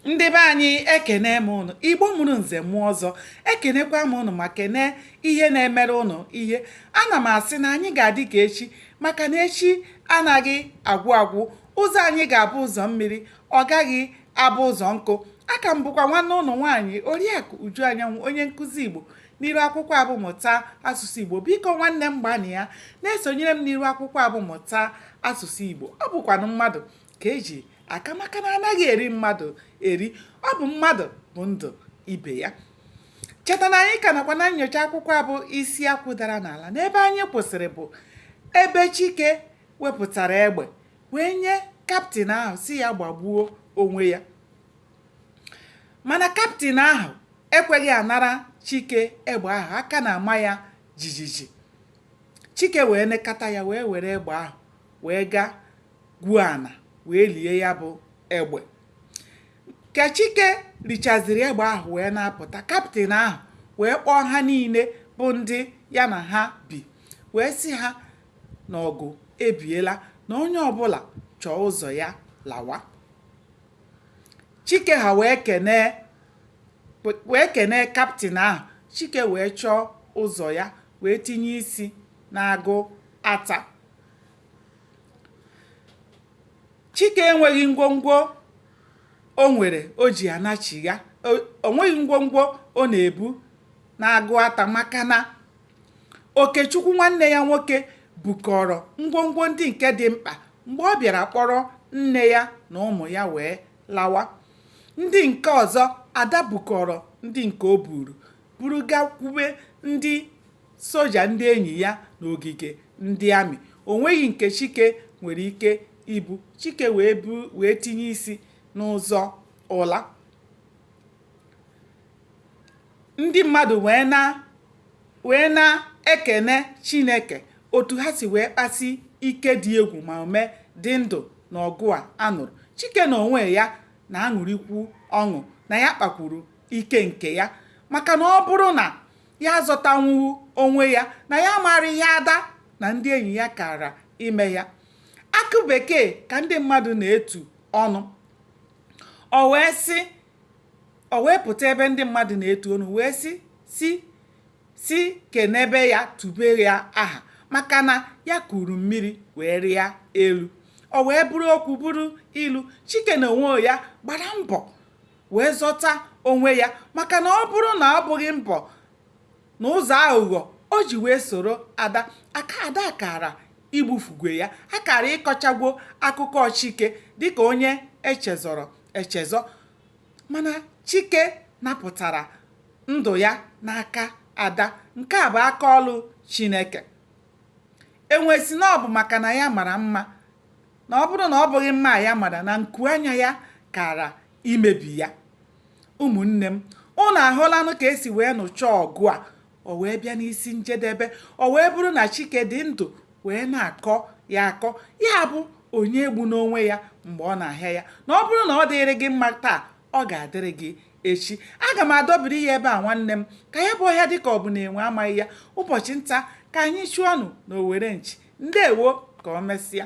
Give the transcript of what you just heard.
ndị be anyị ekene m ụnụ igbo mụrụ nze mụọ ọzọ ekenekwa m ụnụ ma kenee ihe na-emere ụnụ ihe ana m asị na anyị ga-adị ka echi maka na echi anaghị agwụ agwụ ụzọ anyị ga-abụ ụzọ mmiri ọ gaghị abụ ụzọ nkụ aka m bụkwa nwanne ụnụ nwaanyị oriakụ uju anyanwụ onye nkụzi igbo n'iru akwụkwọ a bụ mụta asụsụ igbo biko nwanne m gbanịa na-esonyere m n'iru akwụkwọ a bụ mụta asụsụ igbo ọ bụkwanụ mmadụ ka e ji aka maka na anaghị eri mmadụ eri ọ bụ mmadụ bụ ndụ ibe ya cheta na anyị ka nọkwa na nnyocha akwụkwọ a bụ isi akwụ dara n'ala n'ebe anyị kwụsịrị bụ ebe chike wepụtara egbe wee nye kaptịn ahụ sị ya gbagbuo onwe ya mana kaptịn ahụ ekweghị anara chike egbe ahụ aka na-ama ya jijiji chike wee nekata ya wee were egbe ahụ wee gaa gwuo ana wee lie ya bụ egbe ka chike lichaziri egbe ahụ wee na-apụta kaptịn ahụ wee kpọọ ha niile bụ ndị ya na ha bi wee sị ha na ọgụ ebiela na onye ọbụla chọọ ụzọ ya lawa chike ha wee kenee wee kenee kaptịn ahụ chike wee chọọ ụzọ ya wee tinye isi n'agụata chike enweghị ngwongwo o nwere o ji anachigha o nweghị ngwongwo ọ na-ebu n'agụata maka na okechukwu nwanne ya nwoke bukọrọ ngwongwo ndị nke dị mkpa mgbe ọ bịara kpọrọ nne ya na ụmụ ya wee lawa ndị nke ọzọ ada bukọrọ ndị nke o buru buru gakwube ndị soja ndị enyi ya n'ogige ndị amị. O nweghị nke Chike nwere ike ibu. Chike wee bu wee tinye isi n'ụzọ ụla. Ndị mmadụ wee na wee na-ekene Chineke otu ha si wee kpasi ike dị egwu ma o mee dị ndụ n'ọgụ a a nụrụ. Chike n'onwe ya na-aṅụrịkwu ọṅụ na ya kpakwuru ike nke ya maka na ọ bụrụ na ya azọtanwughị onwe ya na ya maara ihe ada na ndị enyi ya kara ime ya akụ bekee ka ndị mmadụ na-etu ọnụ o wee sị o wee pụta ebe ndị mmadụ na-etu ọnụ wee sị si si kenebe ya tube ya aha maka na ya kuru mmiri wee rịa elu o wee bụrụ okwu bụrụ ilu chike n'onwe ya gbara mbọ wee zọta onwe ya maka na ọ bụrụ na ọ bụghị mbọ na ụzọ aghụghọ o ji wee soro ada aka ada kara igbufugwe ya a kara ịkọchagwo akụkọ chike dịka onye e chezọrọ echezọ mana chike napụtara ndụ ya n'aka ada nke a bụ aka ọlụ chineke enwe sị na ọ bụ maka na ya mara mma na ọ bụrụ na ọ bụghị mma ya mara na nku anya ya kara imebi ya ụmụnne m unu ahụlanụ ka e si wee nụchaa ọgụ a o wee bịa n'isi njedebe o wee bụrụ na chike dị ndụ wee na-akọ ya akọ ya bụ onye egbuna onwe ya mgbe ọ na-ahịa ya na ọ bụrụ na ọ dịrị gị mma taa ọ ga-adịrị gị echi aga m adọbiri ya ebe a nwanne m ka ya bụ ọhịa dị ka ọ bụ na enwe amaghị ya ụbọchị nta ka anyị chụọnụ na owere nchi ndewo ka o mesịa